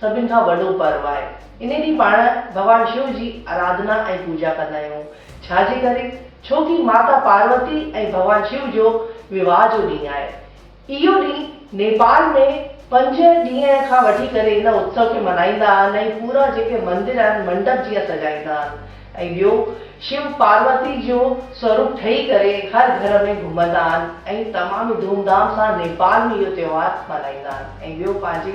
سڀن کان وڏو پرو آهي. ان ڏينهن پاڻ ڀڳوان شو جي آراڌنا ۽ پوڄا ڪندا آهيون. ڇا جي ڪري؟ ڇو ڪي ماتا پاروتي ۽ ڀڳوان شو جو وواهه جو ڏينهن آهي. اهو ڏينهن نيپال ۾ پنج ڏينهن کان وٺي ڪري ان اتسو کي منائيندا آهن ۽ پورا جيڪي مندر آهن منڊپ جيئن سجائيندا آهن ۽ ٻيو شو پاروتي جو سوروپ ٺهي ڪري هر گهر ۾ گهمندا آهن ۽ تمام ئي ڌوم ڌام سان نيپال ۾ اهو تهوار منائيندا آهن ۽ ٻيو پنهنجي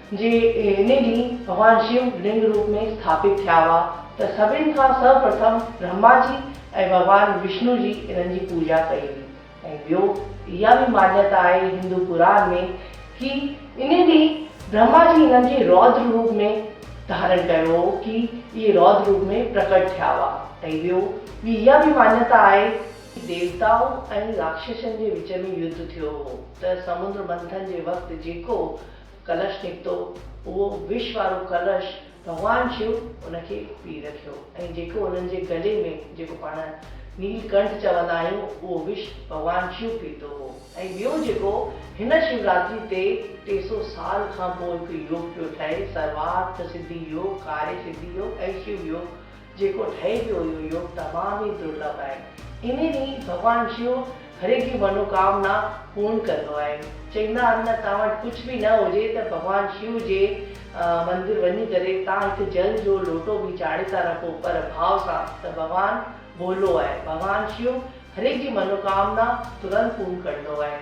جي انهي ڏينهن ڀڳوان شيو لنگ روپ ۾ اسٿاپت ٿيا هئا ته سڀن کان سر پرٿم برهما جي ۽ ڀڳوان وشنو جي انهن جي پوڄا ڪئي هئي ۽ ٻيو اها به ماڃتا آهي هندو پراڻ ۾ ڪي انهي ڏينهن برهما جي انهن کي رودر روپ ۾ ڌارڻ ڪيو هو ڪي اهي رودر روپ ۾ پرڪٽ ٿيا هئا ۽ ٻيو ٻي اها به ماڃتا آهي ته ديوتائن ۽ راڪشسن جي وچ ۾ يڌ ٿيو هو ته سمندر منٿن جي وقت جيڪو ڪلش نڪتو، اهو وش وارو ڪلش ڀڳوان شو ان کي پي رکيو ۽ جيڪو انهن جي گلي ۾ جيڪو پاڻ نيل ڪنٺ چوندا آهيون اهو وش ڀڳوان شو پيتو هو ۽ ٻيو جيڪو هن شيوراتري تي ٽي سو سال کان پوء هڪ يوگ پيو ٺهي سروارٿ سڌي يوگ، ڪاري سڌي يوگ ۽ شيو يوگ، جيڪو ٺهي پيو اهو يوگ تمام ئي درلڀ آهي. انهي ڏينهن ڀڳوان شو هر هڪ جي منوڪامنا پورڻ ڪندو آهي. چئيندا آهن نه توهان وٽ ڪجهه به نه هجي ته ڀڳوان شو جي مندر وڃي ڪري توهان هڪ جل جو لوٽو به چاڙهي ٿا رکو پر ڀاء سان ته ڀڳوان ڀولو آهي. ڀڳوان شو هر هڪ جي منوڪامنا ترنت پورڻ ڪندو آهي.